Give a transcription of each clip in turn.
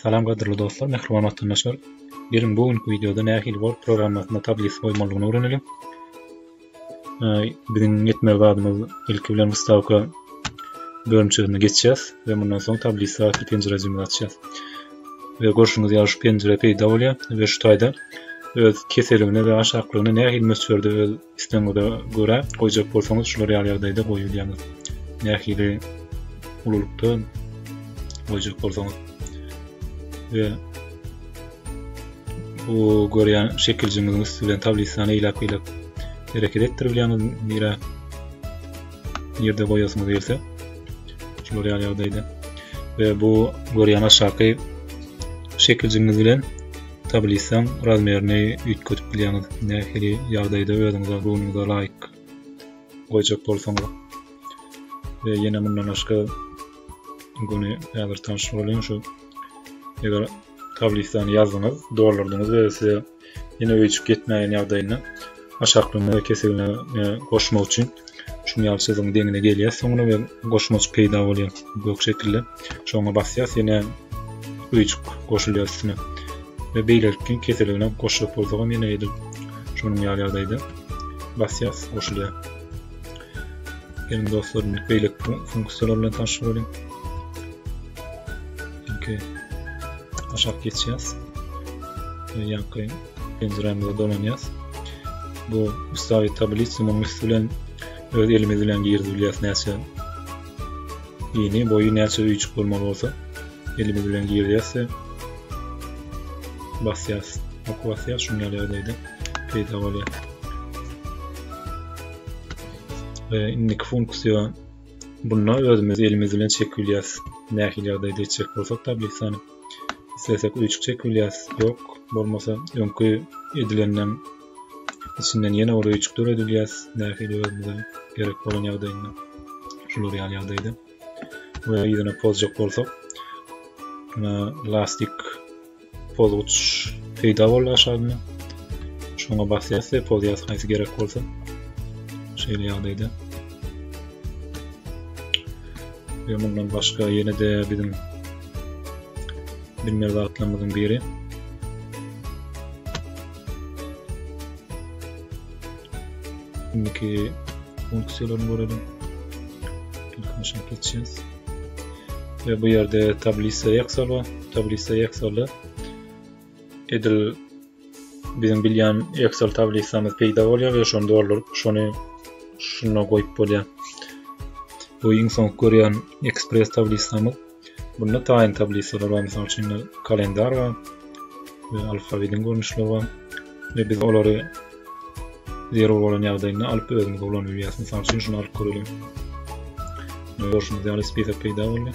Salam gadyrly dostlar, mähriban watandaşlar! Geliň bu günki wideoda nähili Word programmasynda tablis goýmalydygyny öwrenelim. Biziň etmeli zadymyz ilki bilen wystavka bölümçesine geçýäs we mundan soň tablis atly penjirejimizi açýas. We görşüňiz ýaly şu penjire peýda bolýar we şu taýda öz keseligine we aşaklygyna nähili möçberde öz Islegiňize görä goýjak bolsaňyz şular ýaly ýagdaýda goýberýäňiz. Nähili ululykda goýjak bolsaňyz. Ve bu görýän şekiljiňiziň üsti bilen tablisany eýläk-beýläk hereket etdirip bilýäňiz. Nirä ýerde goýasyňyz gelse şular ýaly ýagdaýda. Ve bu görýän aşaky şekiljiňiz bilen tablisaň razmerini üýtgedip bilýäňiz. Nähili ýagdaýda özüňize runyňyza laýyk goýjak bolsaňyz. We ýene mundan başga göni häzir tanyş boluň şu eger tablisany ýazdyňyz, dolurdyňyz we size ýene öýjük ýetmäýen ýagdaýynda Aşaklygyna we keseligine goşmak üçin şuny ýaly çyzygyň deňine gelýäs soňra we goşmajyk peýda bolýar gök şekilde. Şoňa basýas ýene öýjük goşulýar üstüne. We beýlelikki keseligine goşjak bolsak hem ýene edil şonuň ýaly ýagdaýda basýas goşulýar. Geliň dostlar indi beýleki funksiýalar bilen tanşyp boluň. Ilki aşak geçýäs. Ýaňky Penjirämizde dolanýas. Bu ustawi tablisa muň üsti bilen öz elimiz bilen girdi bilýäs näçe ini boýy näçe üýçük bolmaly bolsa elimiz bilen girýäs de basýas ok basýas şuň ýaly ýagdaýda peýda bolýar e, indiki funksiýa bunda özümiz elimiz bilen çekip bilýäs nähili ýagdaýda etjek bolsak tablisany isleseň öýjük çekip bilýäs ýok bolmasa öňki edilenden içinden ýene bir öýjük döredilýäs nähili özümize gerek bolan ýagdaýynda şular ýaly ýagdaýda we ýüzüne pozjak bolsak muna lastik pozguç peýda boldy aşagynda şoňa basýas we pozýas haýsy gerek bolsa şeýle ýagdaýda we mundan başga ýene-de biziň Bilmez bagtlarymyzyň biri. Indiki funksiýalaryny görelim. Funksiýa geçýäs. Ve bu ýerde tablisa Excel bar. Tablisa Excel'de edil Biziň bilýän Excel tablisamyz peýda bolýar we şony dolduryp, şony şuna goýup bolýar. Bu iň soňky görýän Express tablisamyz. Bunda taýyn tablisalar bar, mysal üçin kalendar bar we alfabetiň görnüşleri bar. Ve biz olary zerur bolan ýagdaýynda alyp özüňiz ulan bilýäs. Mysal üçin şunu alyp göreliň. Görşüňiz ýaly spisak peýda boldy.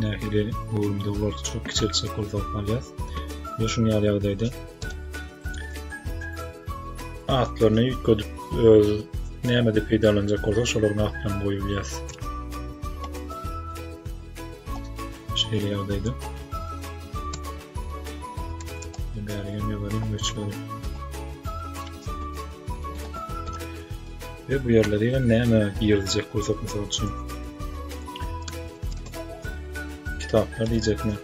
Nähili görümde ular çok kiçeltjek bolsa alýas. Ve şun ýaly ýagdaýda atlaryny ýütgedip öz nämede peýdalanjak bolsa şolaryň atlaryny goýup bilýäs. Şeýle ýagdaýda bärigen ýazaryň möçberi. Ve bu ýerlere ýa näme girizjek bolsak mysal üçin. Kitaplar diýjekmi?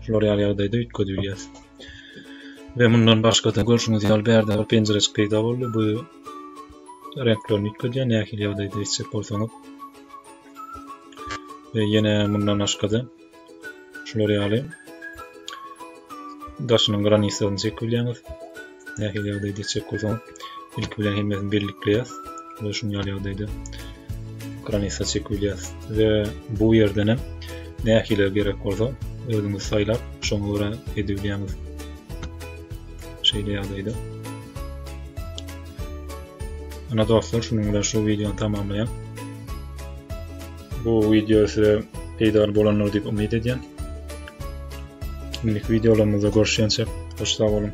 Şular ýaly ýagdaýda üýtgedip bilýäris. Ve mundan başga da görşüňiz ýaly bärde bir penjireçik peýda boldy. Bu reňkler nikledi nähili ýagdaýda etjek bolsaňyz we ýene mundan başgada şular ýaly daşynyň granisasyny çekip bilýäňiz nähili ýagdaýda etjek bolsaňyz ilki bilen hemmesini birlikleýäs we şuň ýaly ýagdaýda granisa çekip bilýäs we bu ýerden hem nähili gerek bolsa özüňiz saýlap şoňa görä edip bilýäňiz Şeýle ýagdaýda. Ana dostlar, şunuň bilen şu wideony tamamlaýan. Bu wideo size peýdaly bolandyr diýip umyt edýän. Indiki wideolarymyzda görüşýänçe, hoş sag boluň.